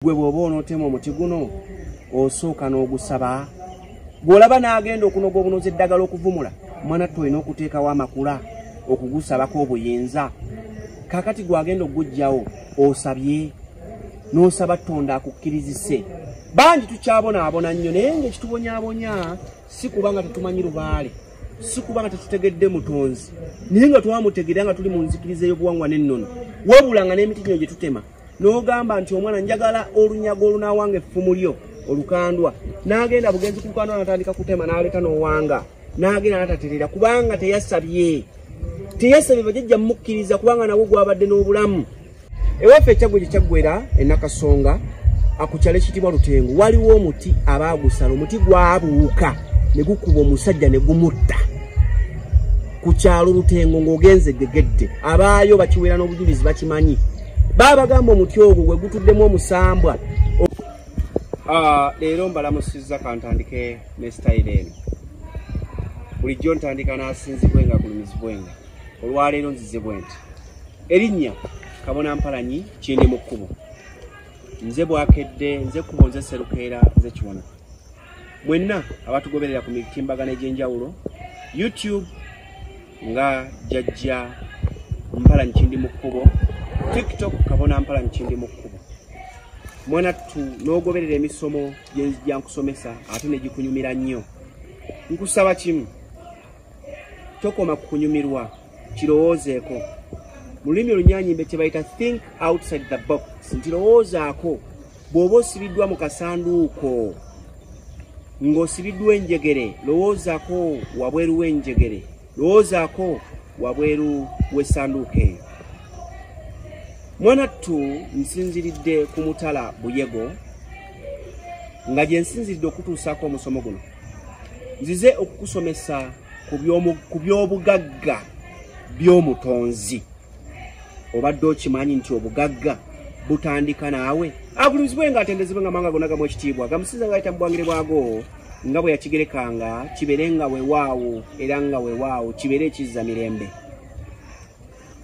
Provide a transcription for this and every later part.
gwe bwoba onotema omuti guno osooka n'ogusaba gwolaba n'agenda okunoga obunozi eddagala okuvumula mwana ttu olina okuteekawo amakula okugusabako obuyinza kakati gwagenda okugujjawo osabye n'osaba tonda akukkirizise bangi tukyabonaabona nnyo naye ngaekitubonyabonya si kuba nga tetumanyi lubaale si kuba nga tetutegedde mutonzi naye nga twamutegera nga tuli mu nzikiriza ey'obuwangwa n'ennono wabula nga n'emiti gino gye tutema n'ogamba nti omwana njagala olunyago olunaawanga effumu lyo olukandwa n'agenda bugenzi ku lukandwa natandika kutema n'aleta n'owanga n'agenda nataterera kubanga teyasabye teyasabye bajajja mumukkiriza kubanga nawo gwabadde n'obulamu ewaffe ekyaggwe gye kyaggwera enakasonga akukyalo ekitibwa lutengo waliwo omuti abaagusala omuti gwabuuka ne gukuba omusajja ne gumutta ku kyalo lutengo ng'ogenze gegedde abaayo bakiwera n'obujulizi bakimanyi baba bagamba omuti ogwo gwe gutuddemu omusambwa ah, leero mbalamusizza kantandike ne sitayiro eno bulijjo ntandika n'asinzibwenga kulumizibwenga olwaleero nzize bwe nti erinnya kabona mpalanyi kindi mu kkubo nze bwakedde nze kkubo nze serukeera nze kiwona mwenna abatugoberera ku mitimbagano egy'enjawulo youtube nga jajja mpala nkindi mu kkubo tiktok kabona mpala nkindi mu kkubo mwanattu n'ogoberera emisomo gyenzija nkusomesa ate ne gikunyumira nnyo nkusaba kimu tokoma ku kunyumirwa kirowoozeeko mu lulimi olunyanyimbe kye bayita think outside the box nti lowoozaako Bw'oba osibiddwa mu kasanduuko ng'osibiddwa enjegere, lowoozako wabweru w'enjegere, lowoozako wabweru w'essanduuko eyo. Mwanattu nsinziridde ku mutala Buyego nga gye nsinziridde okutuusaako omusomo guno. Nzize okukusomesa ku by'obugagga by'omutonzi. obadde okimanyi nti obugagga butandika naawe agulumizibwe nga atendezebwe nga manga gona gamu ekitiibwa gamusinza ngaayita mu bwangire bwago nga bwe yakigerekanga kibeere nga wewaawo era nga wewaawo kibeere ekizza mirembe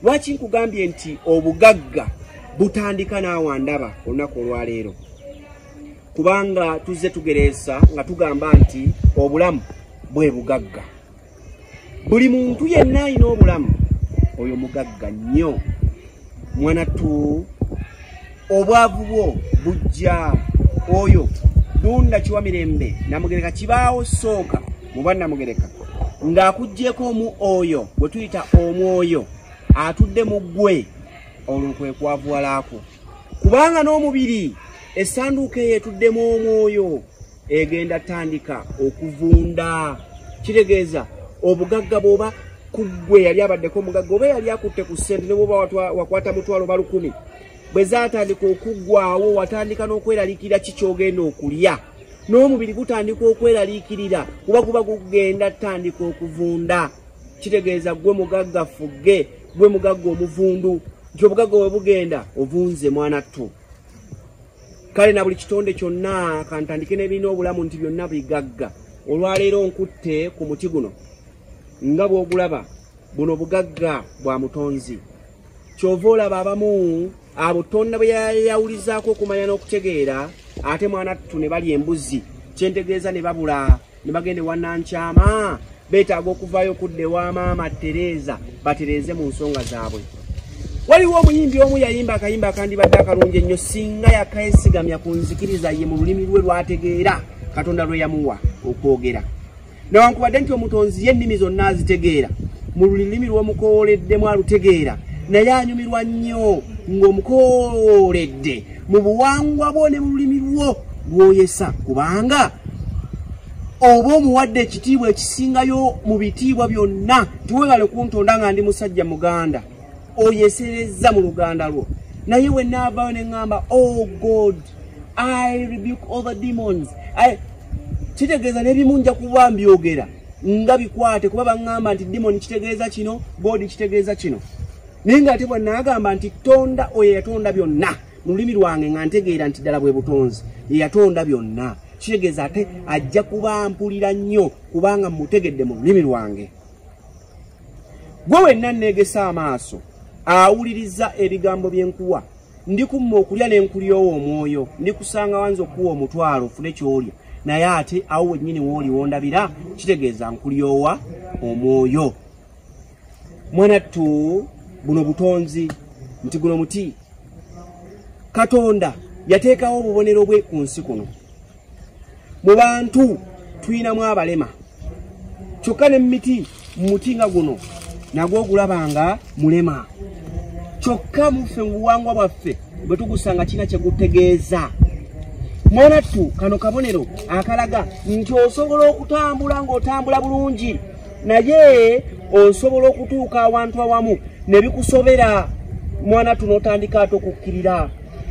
lwaki nkugambye nti obugagga butandika naawa ndaba olunaku olwaleero kubanga tuzze tugereesa nga tugamba nti obulamu bwe bugagga buli muntu yenna alina obulamu oyo mugagga nnyo mwana tu obwavu bwo bujja oyo dunda kiwa mirembe namugereka kibaawo sooka muba namugereka ng'akugyeko omu oyo bwe tuyita omwoyo atudde mu ggwe olwo kwe kwavuwalaako kubanga n'omubiri essanduuka eyo etuddemu omwoyo egenda tandika okuvunda kitegeeza obugagga bwoba kuggwe yali abaddeko omugagga oba yali akutte ku ssente ne bwoba wakwata mutwalo ba lukumi bwe zatandika okuggwawo watandika n'okweraliikirira ki kyogenda okulya n'omubiri gutandika okweraliikirira kuba guba gugenda tandika okuvunda kitegeeza gwe mugagga fugge gwe mugagga omuvundu nti obugagga bwe bugenda ovunze mwana ttu kale na buli kitonde kyonna kantandike n'ebirina obulamu nti byonna bigagga olwaleero nkutte ku muti guno nga bw'ogulaba buno bugagga bwa mutonzi kyova olaba abamu abo tonda bwe yayawulizaako okumanya n'okutegeera ate mwana ttu ne bali embuzi kyentegeeza ne babula ne bagenda ewa nankyama beetaaga okuvaayo okudda ewa maama tereeza batereeze mu nsonga zaabwe waliwo omuyimbi omu yayimba akayimba akandibadde akalungi ennyo singa yakesigamya ku nzikiriza ye mu lulimi lwe lwategeera katonda lwe yamuwa okwogera newankubadde nti omutonzi ye ennimi zonna azitegeera mu lulimi lw'omukoowoleddemu alutegeera naye anyumirwa nnyo ng'omukoowoledde mu buwangwa bwo ne mu lulimi lwo lwoyesa kubanga oba omuwadde ekitiibwa ekisingayo mu bitiibwa byonna tiwebale kuntonda nga ndi musajja muganda oyeserezza mu luganda lwo naye wenaavayo ne ŋŋamba o oh god i rebuke all the demons kitegeeza n'ebimu nja kuba mbyogera nga bikwate kuba baŋŋamba nti demoni kitegeeza kino god kitegeeza kino naye nga ate bwanaagamba nti tonda oyo eyatonda byonna mu lulimi lwange nga ntegeera nti ddala bwe butonzi eyatonda byonna kitegeeza ate ajja kuba mpulira nnyo kubanga mutegedde mu lulimi lwange gwe wenna nneegesa amaaso awuliriza ebigambo byenkuwa ndikumma okulya nenkulyowo omwoyo ndikusanga wanza okuwa omutwalo ofune kyolya naye ate awo wennyini wooli wondabira kitegeeza nkulyowa omwoyo mwanattu buno butonzi nti guno muti katonda yateekawo obubonero bwe ku nsi kuno mu bantu tulinamu abalema kyokka ne mumiti mumuti nga guno nagwo ogulaba nga mulema kyokka muffe mu buwangwa bwaffe bwe tugusanga kirina kye gutegeeza mwanattu kano kabonero akalaga nti osobola okutambula ng'otambula bulungi naye osobola okutuuka awantu awamu ne bikusobera mwana tuno otandika ate okukkirira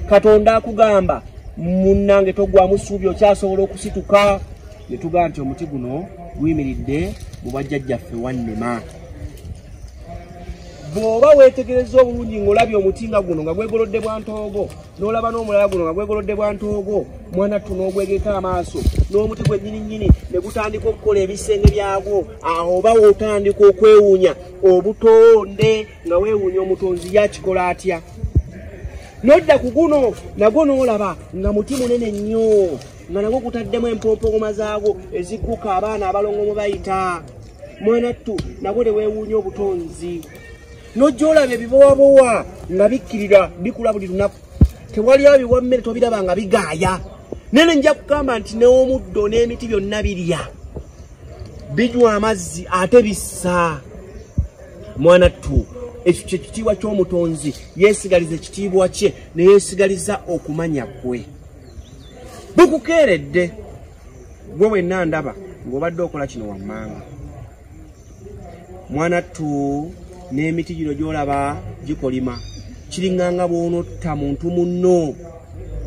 katonda akugamba munnange togwamu ssuubi okyasobola okusituka ne tugaa nti omuti guno guyimiridde mu bajjajjaffe wannema bw'oba weetegereza obulungi ng'olabye omuti nga guno nga gwegolodde bwantoogo n'olaba n'omulala guno nga gwegolodde bwa ntoogo mwana ttu n'ogwegeka amaaso n'omuti gwe nnyini nnyini ne gutandika okukola ebisenge byagwo awo oba wotandika okwewuunya obutonde nga weewuunya omutonzi yakikola atya nodda ku guno nagwo n'olaba nga muti munene nnyo nga nagwo gutaddemu empompogoma zaagwo ezigguka abaana abalongo mu bayita mwana ttu nagwo ne weewuunya obutonzi nojja olaba ebibowabowa nga bikkirira bikula buli lunaku tewali abiwa mmere tobiraba nga bigaaya nene nja kugamba nti newomuddo n'emiti byonna birya binywa amazzi ate bissa mwana ttu ekyo kyekitiibwa ky'omutonzi yeesigaliza ekitiibwa kye neyeesigaliza okumanya kwe bukukeeredde gwe wenna ndaba ng'obadde okola kino wammanga mwana tu n'emiti gino gy'olaba gikolima kiringa nga bw'onotta muntu munno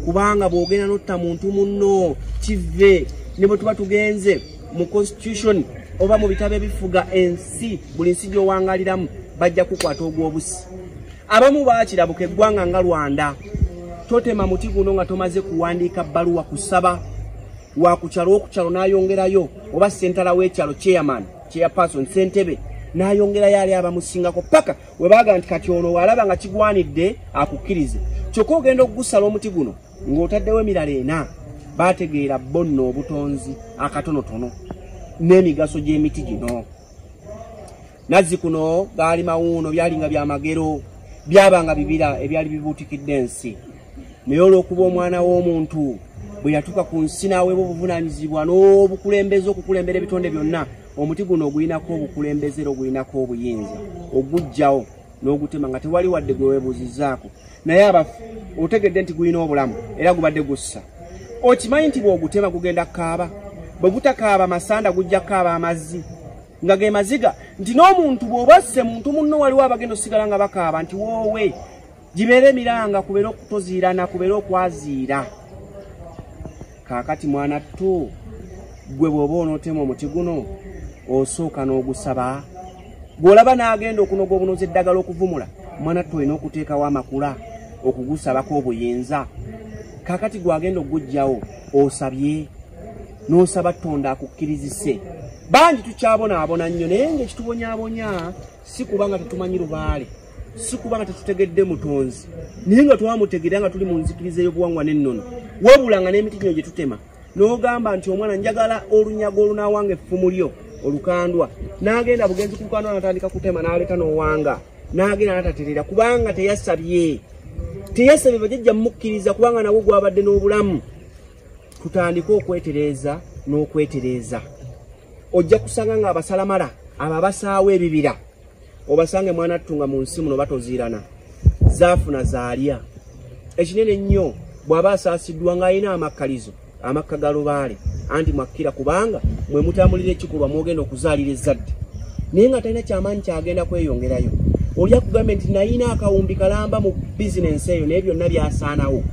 kubanga bw'ogenda n'otta muntu munno kive ne bwe tuba tugenze mu constitution oba mu bitabo ebifuga ensi buli nsi gy'owangaliramu bajja kukwata ogw'obusi abamu bakirabuka eggwanga nga rwanda totema muti guno nga tomaze kuwandiika bbaluwa kusaba wakukyalo okukyalo nayongerayo oba sentala wekyalo chairman chairperson sentebe nayongerayo ali abamusingako paka webaga nti kati ono walaba nga kigwanidde akukkirize kyokka ogenda okugusala omuti guno ng'otaddewo emirala ena bategeera bonna obutonzi akatonotono n'emigaso gy'emiti gino nazzi kuno gaali mawuuno byali nga byamagero byaba nga bibira ebyali bibuutikidde ensi naye olw'okuba omwana w'omuntu bwe yatuuka ku nsi n'aweebwa obuvunaanyizibwa n'obukulembeze okukulembera ebitonde byonna omuti guno ogulinako obukulembeze era ogulinako obuyinza ogujjawo n'ogutema nga tewali wadde gwe weebuuzizaako naye abafu otegedde nti gulina obulamu era gubadde gussa okimanyi nti bw'ogutema gugenda kaaba bwe gutakaaba masanda gujja kaaba amazzi nga ge maziga nti n'omuntu bw'oba azze muntu munno waliwo abagenda osigala nga bakaaba nti woowe gibeera emiranga kubeera okutoziirana kubeera okwaziira kaakati mwana ttu gwe bw'oba onootema omuti guno osooka n'ogusaba bw'olaba n'agenda okunoga obunozi eddagala okuvumula mwana ttu olina okuteekawo amakula okugusabako obuyinza kaakati gw'agenda okugugyawo osabye n'osaba tonda akukkirizise bangi tukyabonaabona nnyo naye ngaekitubonyabonya si kuba nga tetumanyi lubaale si kuba nga tetutegedde mutonzi naye nga twamutegera nga tuli mu nzikiriza ey'obuwangwa n'ennono wabula nga n'emiti gino gye tutema n'ogamba nti omwana njagala olunyago olunaawanga effumu lyo olukandwa n'agenda bugenzi kulukandwa natandika kutema n'aleeta n'owanga n'agenda nataterera kubanga teyasabye teyasabye bajajja mumukkiriza kubanga nawe gwabadde n'obulamu tutandike okwetereeza n'okwetereeza ojja kusanga nga abasalamala abo abasaawo ebibira obasange mwana ttunga mu nsi muno batoziirana zaafuna zaalya ekinene ennyo bw'aba asaasiddwa ng'alina amakkalizo amakka ga lubaale anti mwakkira kubanga mwe mutambulira ekikolwa mwogenda okuzaalira ezzadde naye nga talina kyamaanyi kyagenda kweyongerayo olya kugambye nti nayina akawumbi kalamba mu bizinensi eyo naye byonna byasaanawo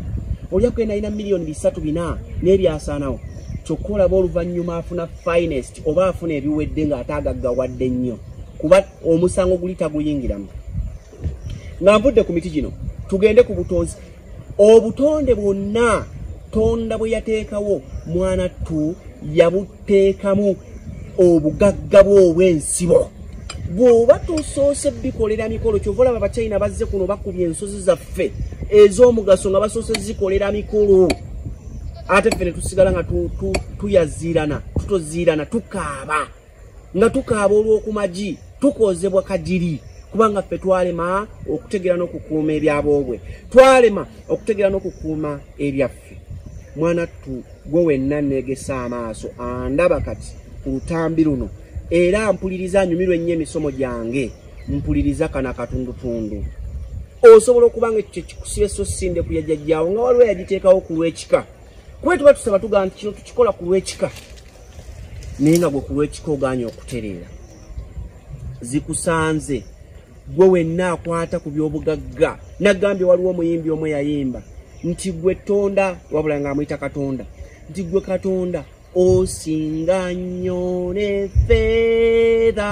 olya kugenda nayina miliyoni bisatu bina naye byasaanawo kyokka olaba oluvannyuma afuna finest oba afuna ebiwedde ng'ate agaggawadde nnyo kuba omusango guli taguyingiramu nga nvudde ku miti gino tugende ku butonzi obutonde bwonna tonda bwe yateekawo mwana ttu yabuteekamu obugagga bwe obw'ensibo bw'oba tosoose bikolera mikolo kyova olaba abachina bazze kuno bakubye ensozi zaffe ez'omugaso nga basoose zikolera mikolo ate fene tusigala nga tuyaziirana tutoziirana tukaaba nga tukaaba olw'okumagi tukoozebwa kagiri kubanga ffe twalema okutegeera n'okukuuma ebyaboobwe twalema okutegeera n'okukuuma ebyaffe mwana ttu gwe wenna neegesa amaaso andaba kati ku lutambi luno era mpuliriza anyumirwa ennyo emisomo gyange mpuliriza kana katundutundu osobola okuba nga ekyo kyekikusiba esso sinde kuyajajjaawo nga waliwo yagiteekawo ku lw'ekika kuba tuba tusaba tugamba nti kino tukikola ku lw'ekika naye nga gwe ku lw'ekika ogaanye okutereera zikusanze gwe wenna akwata ku by'obugagga nagambye waliwo omuyimbi omu eyayimba nti gwe tonda wabula nga amuyita katonda nti gwe katonda osinga nnyo ne feedha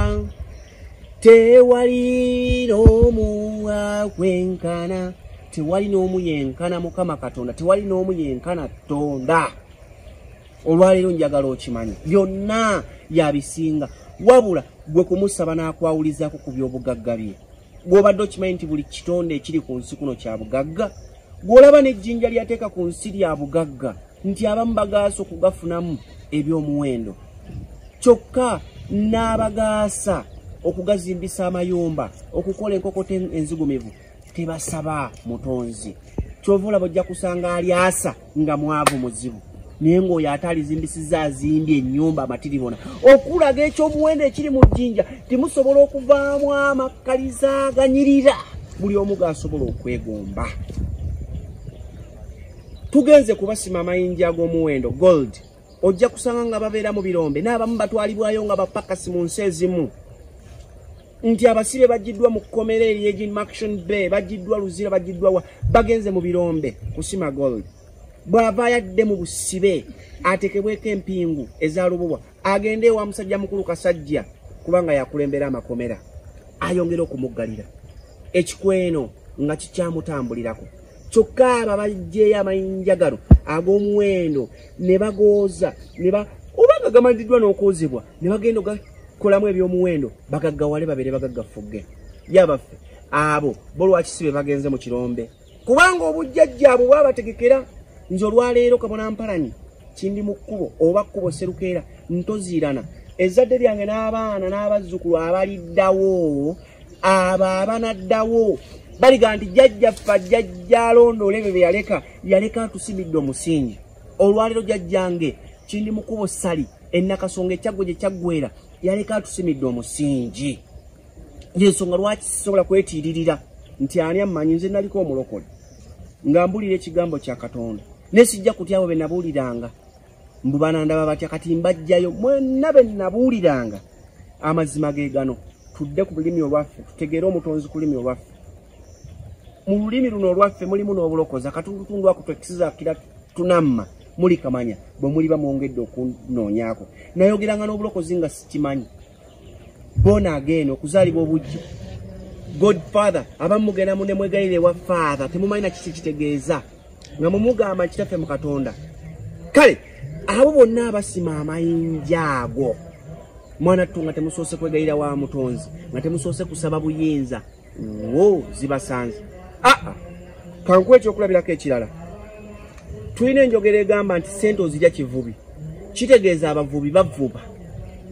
tewali n'omu akwenkana tewali n'omu yenkana mukama katonda tewali n'omu yenkana tonda olwaleero njagala okimanye byonna yabisinga wabula gwe kumusaba n'akwawulizaako ku by'obugagga bye gw'obadde okimanyi nti buli kitonde ekiri ku nsi kuno kya bugagga gw'olaba n'ejjinja lyateeka ku nsi lya bugagga nti abamu bagaasa okugafunamu eby'omuwendo kyokka n'abagaasa okugazimbisa amayumba okukola enkokota enzigumivu tebasaba mutonzi kyova olaba ojja kusanga alyasa nga mwavu muzibu naye ngaoyo ate alizimbisiza azimbye enyumba amatiribona okulaga ekyomuwendo ekiri mu jjinja timusobola okuvaamu amakkaliza aganyirira buli omu gasobola okwegomba tugenze kubasima amayinja ag'omuwendo gold ojja kusanga nga babeera mu birombe n'abamu batwalibwayo nga bapakasi mu nsi ezimu nti abasibe bagiddwa mu kkomera eryegi maction bay bagiddwa luzira bagiddwa wa bagenze mu birombe kusima gold bw'ava yadde mu busibe atekebweko empingu ezalububwa agende ewa musajja mukulu kasajja kubanga yakulembera amakomera ayongere okumuggalira ekikweno nga kikyamutambulirako kyokka abo abajjeeyo amayinja gano ag'omuwendo ne bagooza ne ba oba nga gamanyiddwa n'okwozebwa ne bagenda ogakolamu ebyomuwendo bagaggawale babeere bagaggafugge yabaffe abo bo lwakisibe bagenze mu kirombe kubanga obujjajja abo bwabategekera nze olwaleero kabona mpalanyi kindi mu kkubo oba kkubo serukeera ntoziirana ezzadde lyange n'abaana n'abazzukulu abaliddawo abo abanaddawo baliga nti jajjaffe ajjajja alondoola ebyo bye yaleka yaleka atusimidde omusingi olwaleero jajjange kindi mu kkubo sali ennakasonga ekyaggwa gye kyaggwera yaleka atusimidde omusingi yensonga lwaki sisobola kwetiiririra nti ani ammanyi nze naliko omulokole nga mbulira ekigambo kya katonda ne sijja kutya abo be nabuuliranga mbu banandaba batya kati mbajjayo mwenna be nabuuliranga amazima ge gano tudde ku lulimi olwaffe tutegeere omutonzi ku lulimi olwaffe mu lulimi luno olwaffe mulimu n'obulokozi akatundutundu ako twekisizakira tunamma muli kamanya bwe muliba mwongedde okunoonyako nayogeranga n'obulokozi nga sikimanyi bona ageeno okuzaalibwa obujji god father abamu mugenda mu nemwegayire ewa father temumanyi na kiki kitegeeza nga mumugamba kitaffe mu katonda kale abo bonna abasima amayinja ago mwana ttu nga temusoose kwegayira wa mutonzi nga temusoose kusaba buyinza wo zibasanze aa ah, ah. kankuwa ekyokulabirako ekirala tulina enjogera egamba nti sente ozirya kivubi kitegeeza abavubi bavuba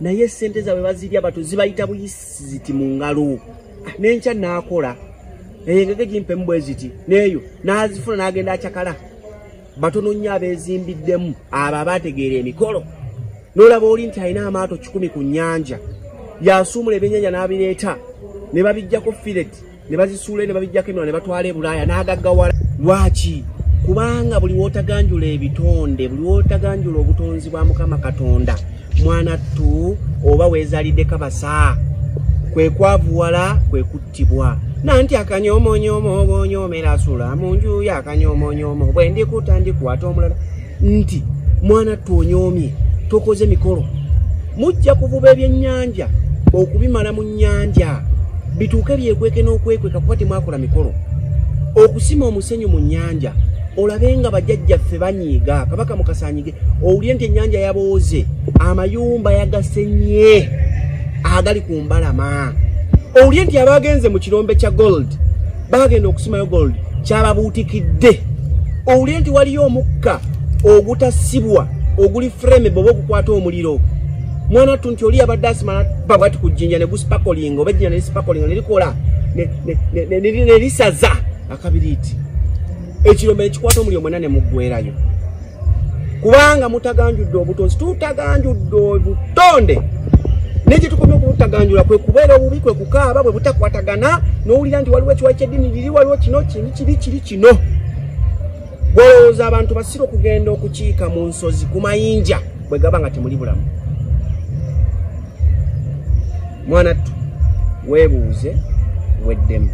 naye sente zabwe bazirya bato zibayita buyisi ziti mu ngalo ah, nenkya naakola engege gimpemu bwe ziti neeyo naazifuna n'agenda acakala batono nnyo abeezimbiddemu abo abaategeera emikolo n'olaba oli nti alina amaato kikumi ku nnyanja yasuumula ebyennyanja n'abireeta ne babijjako firet ne bazisuula ne babijjako emira ne batwala ebulaaya n'agaggawala lwaki kubanga buli wootaganjula ebitonde buli wootaganjula obutonzi bwa mukama katonda mwana ttu oba weezaliddeko basaa kwe kwavuwala kwe tibwa nanti akanyomonyomo obonyomera sula mu nju ya akanyomonyomo bwe ndikuta ndikwata omulala nti mwana twonyomye tokoze mikolo mujja kuvuba ebyennyanja okubimala mu nnyanja bituuke byekweke n'okwekweka kuba temwakola mikolo okusima omusenyu mu nnyanja olabe nga bajajjaffe banyiiga kabaka mukasanyige owulire nti ennyanja yabooze amayumba yagasenye agali ku mbalama owulire nti abagenze mu kirombe kya gold bagenda okusimayo gold kyababuutikidde owulire nti waliyo omukka ogutasibwa oguli frame boba okukwata omuliro mwana ttu nti oli yabadde asimala babwati ku jjinja ne gusipakolinga oba ejjinja ne lisipakolinga ne likola ne lisaza akabiriiti ekirombe nekikwata omuliro mwena nemuggwerayo kubanga mutaganjudde obutonzi tutaganjudde obutonde nekyetukomye okubutaganjula kwe kubeera obubi kwe kukaaba bwe butakwatagana nowulira nti waliwo ekiwayi kyeddini liri waliwo kino kini kiri kiri kino gwolowooza abantu basira okugenda okukiika mu nsozi ku mayinja bwe gaba nga temuli bulamu mwana ttu weebuuze weddemu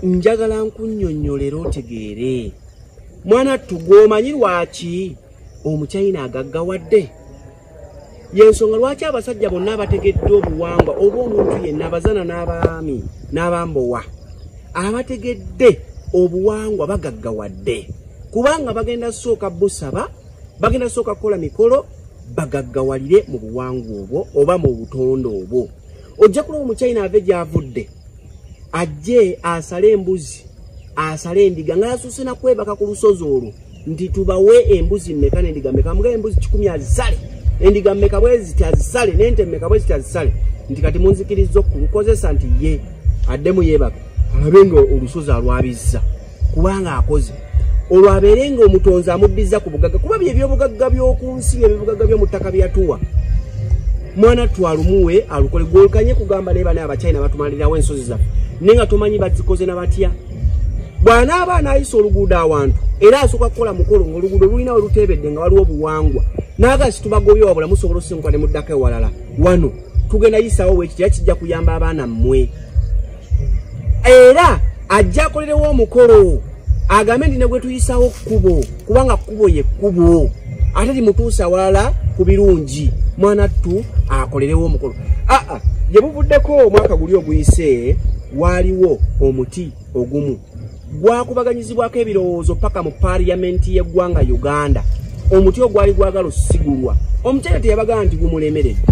njagala nkunyonyolera otegeere mwana tugwomanyi lwaki omuchina agaggawadde yensonga lwaki abasajja bonna abategedde obuwangwa oba omuntu yenna abazana n'abaami n'abambowa abategedde obuwangwa bagaggawadde kubanga bagenda sooka busaba bagenda sooka kukola mikolo bagaggawalire mu buwangwa obwo oba mu butonde obwo ojja kulaba omuchina ave gyavudde ajje asale embuzi asale endiga nga yasuuse nakwebaka ku lusozi olwo nti tubawe embuzi mmeka nendiga mmeka mugae embuzi kikumi azisale endiga mmeka bweziti azisale nente mmeka bweziti azisale nti kati munzikiriza okulukozesa nti ye addemu yebaka alabe nga olusozi alwabizza kubanga akoze olwo abeere nga omutonzi amuddiza ku bugagga kuba bye ebyobugagga by'oku nsi bye bibugagga by'omu ttaka byatuwa mwana twalumuwe alukole gwolkanye kugamba naye bane abachina batumalirawo ensozi zaffe naye nga tomanyi bazikoze na batya bw'anaaba anaayisa oluguudo awantu era asooka kukola mukolo ng'oluguudo lulina we luteebedde nga waliwo obuwangwa naaga situbagobye wabula musobola osinguka ne muddako ewalala wano tugenda yisaawo weekitera kijja kuyamba abaana mmwe era ajja akolerewo omukolo agambe nti negwetuyisawo kkubo kubanga kkubo ye kkubo ate limutuusa walala ku birungi mwana ttu akolerewo omukolo aa ah, ah, gye buvuddeko omwaka guli oguyise waaliwo omuti ogumu gwakubaganyizibwako ebirowoozo paka mu parliamenti y'eggwanga uganda omuti ogwali gwagala osigulwa omukyala teyabagamba nti gumulemeredde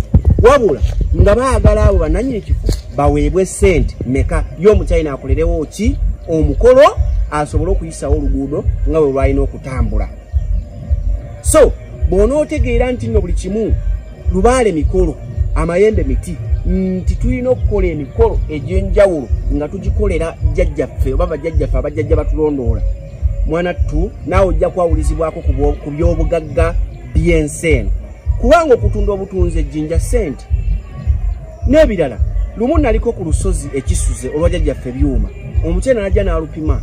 wabula nga baagala abo bananyini kifo baweebwe sente meka ye omukyalina akolerewo ki omukolo asobole okuyisawo oluguudo nga bwe lwalina okutambula so bw'onootegeera nti nno buli kimu lubaale mikolo amayembe miti nti tulina okukola emikolo egy'enjawulo nga tugikolera jjajjaffe oba bajjajjaffe abajjajja batulondoola mwana ttu naawe ojja kwawulizibwako ku by'obugagga by'ensi eno kubanga okutunda obutunzi ejjinja ssente n'ebirala lumu naliko ku lusozi ekisuze olwa jjajjaffe byuma omukyena najja n'alupima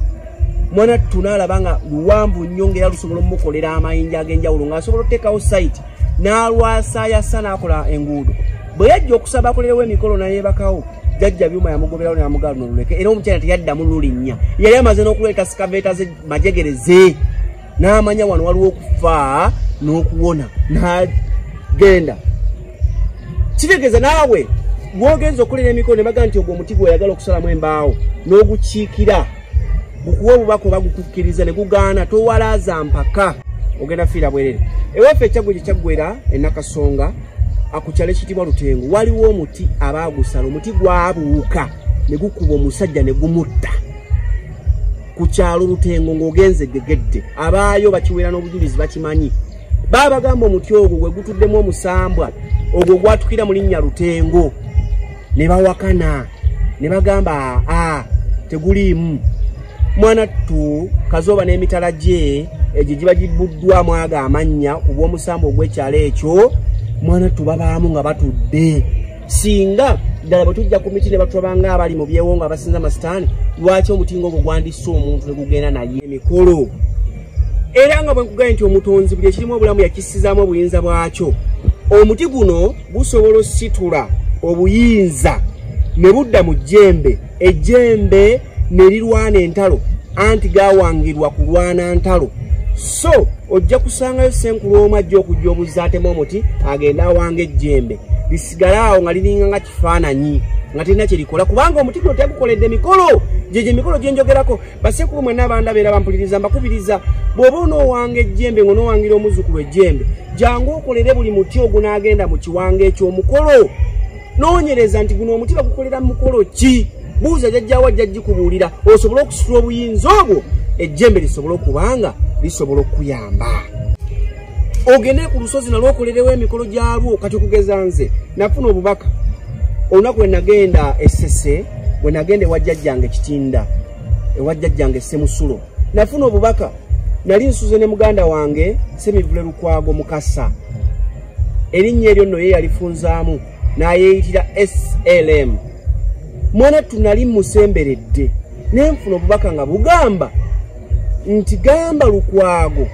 mwana ttu n'alaba nga luwanvu nnyo ngaera lusobola omumukolera amayinja ag'enjawulo ng'asobola oteekawo sayiti n'alwasaayasa n'akola enguudo bwe yajja okusaba akolerewo emikolo nayebakawo jajja byuma yamugoberawo namugaa luno luleke era omukyala teyaddamu lulinnya yali amaze n'okuleeta sikaveeta ze majegere ze n'amanya wano waliwo okufa n'okuwona nagenda kitegeeza naawe gwogenza okulera emikolo ne baga nti ogwo omuti gweoyagala okusalamu embaawo n'ogukiikira gukuwa obubaka oba gukukkiriza ne gugaana towalaaza mpaka ogenda fiira bwerere ewaffe ekyaggwe gye kyaggwera enakasonga akukyalo ekitibwa lutengo waliwo omuti abaagusala omuti gwabuuka ne gukuba omusajja ne gumutta ku kyalo lutengo ng'ogenze gegedde abaayo bakiwera n'obujulizi bakimanyi baabagamba omuti ogwo gwe gutuddemu omusambwa ogwo gwatukira mu linnya lutengo ne bawakana ne bagamba a teguliimu mwana ttu kazooba n'emitala gye egyo giba gibbuddwamu ago amannya ku bw'omusambu ogw'ekyalo ekyo mwana ttu babaamu nga batudde singa ddala bwe tujja ku miti ne batulabanga abali mu byewo nga abasinza amasitaani lwaki omutingo ogwo gwandisse omuntu ne gugenda naye emikolo era nga bwe nkugambye nti omutonzi buli ekirimu obulamu yakissizaamu obuyinza bwakyo omuti guno busobola ositula obuyinza ne budda mu jjembe ejjembe ne lirwana entalo anti gawangirwa kulwana ntalo so ojja kusangayo senkulu omu ajja okujja obuzza atema omuti agenda awanga ejjembe lisigale awo nga liringa nga kifaananyi nga tirina kye likola kubanga omuti guno tegukoledde mikolo gyegyo emikolo gyenjogerako basekulu mwenna abandaba era bampuliriza mbakubiriza bw'oba onoowanga ejjembe ng'onoowangira omuzzukulu ejjembe jangu okolere buli muti ogunaagenda mu kiwanga eky'omukolo noonyereza nti guno omuti bagukolera mu mukolo ki buuza jajjawa ajja gikubuulira osobole okusitula obuyinza obwo ejjembe lisobole okubanga lisobola okukuyamba ogende ku lusozi nalwo okolerewo emikolo gyalwo kati okugeza nze nafuna obubaka olunaku lwe nagenda esese bwe nagenda ewajjajjange kitinda ewajjajjange semusulo nafuna obubaka nali nsuze ne muganda wange semivule lukwago mukasa erinnya eryo nno ye yalifunzaamu n'ayeeyitira slm mwana tunali musemberedde nenfuna obubaka nga bugamba nti gamba lukwago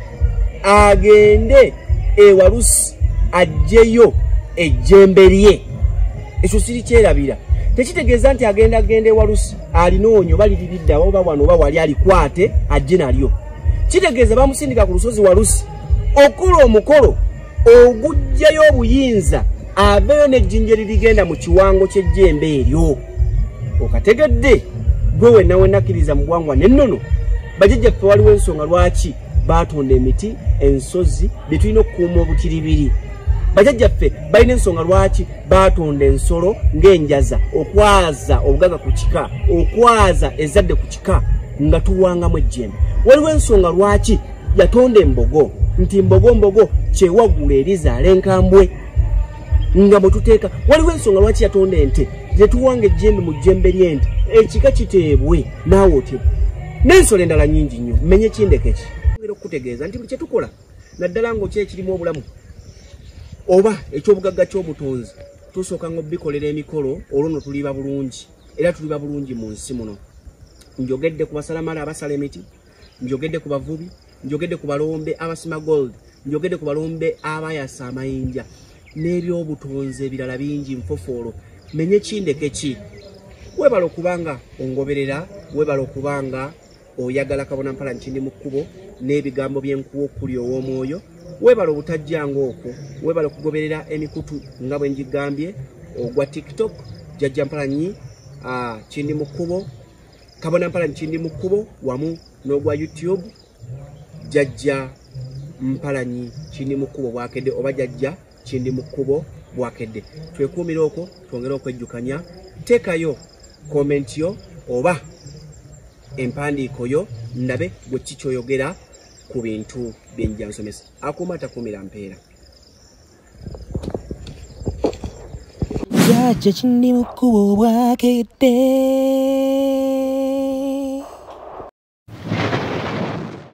agende ewalusi ajjeyo ejjembe lye ekyo siri kyerabira tekitegeeza nti agenda genda ewalusi alinoonyo balirididdawa oba wano oba wali alikwate ajje nalyo kitegeeza bamusindika ku lusozi walusi okukola omukolo ogujjayo obuyinza aveeyo n'ejjinja eririgenda mu kiwango ky'ejjembe eryo okategedde gwe wenna wenakkiriza mu bwangwa n'ennono bajajja ffe waliwo ensonga lwaki baatonda emiti ensozi bye tulina okukuuma obutiribiri bajajja ffe balina ensonga lwaki baatonda ensolo ng'enjaza okwaza obugaga ku kika okwaza ezadde ku kika nga tuwangamu ejjembe waliwo ensonga lwaki yatonda embogo nti mbogo mbogo kyewagula erizaala enkambwe nga bwetuteeka waliwo ensonga lwaki yatonda ente zetuwanga ejjembe mu jjembe lyente ekika kiteebwe naawe otye n'ensolo endala nyingi nnyo menye ekindekeki era okukutegeeza nti buli kyetukola naddala ngaoky ekirimu obulamu oba ekyobugagga kyobutonzi tusooka nga obikolera emikolo olwo no tuliba bulungi era tuliba bulungi mu nsi muno njogedde ku basalamala abasala emiti njogedde ku bavubi njogedde ku balombe abasima gold njogedde ku balombe abayasa amayinja n'ebyobutonzi ebirala bingi nfofoolo menye kindeke ki webala okuba nga ongoberera webala okuba nga oyagala kabona mpala nkindi mu kkubo n'ebigambo byenkuwa okuli ow'omwoyo webala obutajjanga okwo webala okugoberera emikutu nga bwe ngigambye ogwa tiktok jajja mpalanyi ah, kindi mu kkubo kabona mpala nkindi mu kkubo wamu n'ogwa youtube jajja mpalanyi kindi mu kkubo bwakedde oba jajja kindi mu kkubo bwakedde twekuumire okwo twongere okwejjukanya teekayo komenti yo oba empandiiko yo ndabe gwe kikyoyogera ku bintu byenjansomesa akuuma takuumira mpeera jajja kindi mu kkubo obwakedde